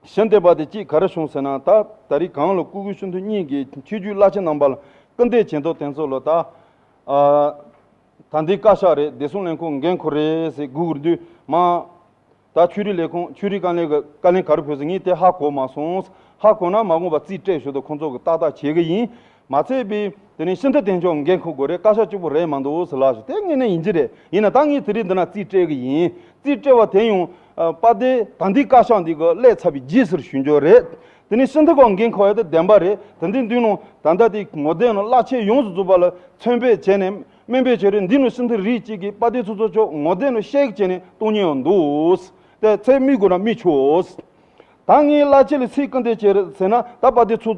གཞན་དེ་བ་དེ་གཅིག་ག་རེ་བྱུང་ཟེར་ན་ད་ད་རིག་གང་ལ་ཀུ་གུ་ཤུན་དུ་གཉིས་ཀྱི་ཁྱི་རྒྱུད་བླ་ཆེན་རྣམ་པ་ལ་སྐུར་འདེབས་བྱེད་མདོག་དེ་ཚོ་ལ་ད་ད་འདི་བཀའ་ཤག་རེད་བདེ་སྲུང་ལས་ཁུངས་འགན་ཁུར་རེད་ཟེར་སྒུག་དགོས་དུས་མ་ད་ཆོས་རིག་ལས་ཁུངས་ཆོས་རིག་བཀའ་ལན་བཀའ་ལན་ག་རེ་ཕུལ་ཟེར་ངས་དེ་ཧ་གོ་མ་སོང་ཧ་གོ་ན་མ་གོ་བ་རྩིས་སྤྲད་ཞུ་དང་ཁོང་ཚོ་གི་ཏག་ཏག་བྱེད་གི་ཡིན། མ་ཚད་པས། དེ་ནས་ཤིན་ཏུ་བདེ་མཆོག་འགན་འཁུར་དགོས་རེད་བཀའ་ཤག་གཅིག་པོ་རེད་མ་འདུག་ཟེར་ལགས་ཞུ་དེ་དངོས་གནས་ཡིན་གྱི་རེད་ཡིན་ན་ད་ངས་དེ་རིགས་འདི་ན་རྩིས་སྤྲད་གི་ཡིན། རྩིས་སྤྲད་བ་དེ་ཡང། པ་དེ་ད་འདི་བཀའ་ཤག་འདི་གི་སླད་ཚབ་པའི་རྗེས་ཟེར་ཞུ་འགྱོ་རེད། དེ་ནས་ཤིན་ཏུ་གང་འགན་འཁུར་བ་ཡོད་དེ་བདེན་པ་རེད་དེ་འདི་མདུན་ནང་ད་ལྟ་དེ་ངོ་དེ་ནང་བླ་ཆེན་ཡོངས་སུ་འཛུགས་པ་ལ་མཚོན་དཔེ་བྱས་ནས་སྨན་པའི་ཆོས་རེད་འདི་ནང་ཤིན་ཏུ་རིགས་གཅིག་གིས་པ་དེ་ཚོ་ཚོ་ཆོག་ངོ་དེ་ནང་གཤེགས་བྱས་ནས་གཏོང་ཉེ་བ་འདུག་ཏེ་ཚད་སྨིག་དགོས་ན་སྨིག་ཆོག། ད་ངས་བླ་ཆེན་ལ་ཚིག་སྐུར་འདེབས་བྱས་རེད་ཟེར་ན་ད་པ་དེ་ཚོ།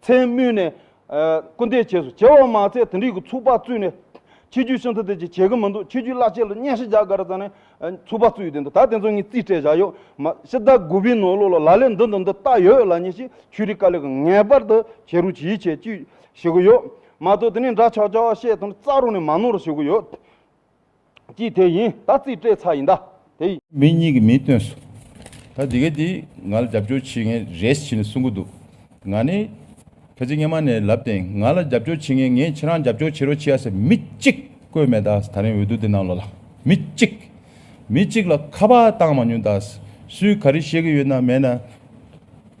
མཚན་སྨོས་ནས། སྐུ་འདས་བྱས་སོ། བྱེ་བ་མ་ཚད་དིང་རིགས་ཀྱི་ཚུགས་པ་བཙུད་ནས། ཕྱི་རྒྱུད་ཤིང་ཚ་དེ་བྱས་བྱས་གི་མི་འདུག་ཕྱི་རྒྱུད་བླ་ཆེན་ལ་སྙན་ཤལ་བྱ་དགའ་ར་ཙམ་ནས། ཚུགས་པ་བཙུད་ཡོད་དེ་འདུག་ད་དེ་ཚོ་ངས་རྩིས་སྤྲད་བཞག་ཡོད། མ་ཕྱི་ཟླ་དགུ་པའི་ནོར་ལུག་ལ་ལ་ལས་འདི་འདི་འདི་བཏགས་ཡོད་ལ་ཉེ་ཞིག་ཆོས་རིག་དཀའ་ལས་ཀྱི་ངེས་པར་དུ་བྱེད་རུ་གྱིས་བྱེད་ཀྱིས་བྱེད་ཀྱི་ཡོད། མ་གཏོགས་དེ་ནས་འདྲ་ཆགས་ཆགས་བཤད་དོན་རྩ་རུ་ནས་མ་ནོར་བྱེད་ཀྱི་ཡོད། ཀྱིས་དེ་ཡིན་ད་རྩིས་སྤྲད་ཚར་ཡིན་ད་དེ། མི་གཉིས་ཀྱི་མིང་བཏོན་སོང། ད་དེ་ག་དེ་ང་ལ་རྒྱབ་སྐྱོར་བྱེད་མཁན་རེད་ཅེས་གསུང་གི་འདུག་ང་ནི་ཕལ་ཆེར་སྔ་མ་ནས་ལབ་སྟེ་ང་ལ་རྒྱབ་སྐྱོར་བྱེད་མཁན་ངས་ཁྱེད་རང་རྒྱབ་སྐྱོར་བྱེད་རོགས་བྱས་ཟེར་མི་གཅིག་བཀོད་མེད་ད་ད་རིང་འོས་བསྡུ་དེ་ནང་ལོག་ལ་མི་གཅིག་མི་གཅིག་ལ་ཁ་པར་བཏང་མ་མྱོང་ད་སུས་ག་རེ་བཤད་ཀྱི་ཡོད་ན་མེད་ན་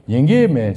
ཉན་གི་མེད།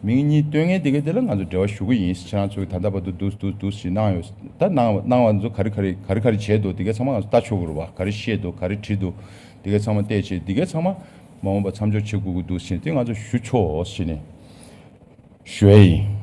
མིང་གཉིས་སྟོན་ངེས་དེ་གའི་དེ་ལ་ང་ཚོ་འབྲེལ་བ་ཞུ་གི་ཡིན་ཕྱི་ནང་ཚོ་གིས་ད་ལྟ་བར་དུ་འདུག་འདུག་འདུག་ཞེས་གནང་ཡོད་ད་གནང་གནང་བ་ཚོ་ག་རེ་ག་རེ་ག་རེ་ག་རེ་བྱས་འདུག་དེ་གའི་ཚང་མ་ང་ཚོ་ལྟ་ཆོག་གི་རུ་བ་ག་རེ་བཤད་འདུག་ག་རེ་བྲིས་འདུག་དེ་གའི་ཚང་མ་བལྟས་ཆེད་དེ་གའི་ཚང་མ་མ་འོངས་པར་མཚམས་འཇོག་བྱེད་དགོས་ཀྱི་འདུག་ཞེས་དེ་ང་ཚོ་ཞུ་ཆོག་ཞེས་ནས་ཞུ་བ་ཡིན།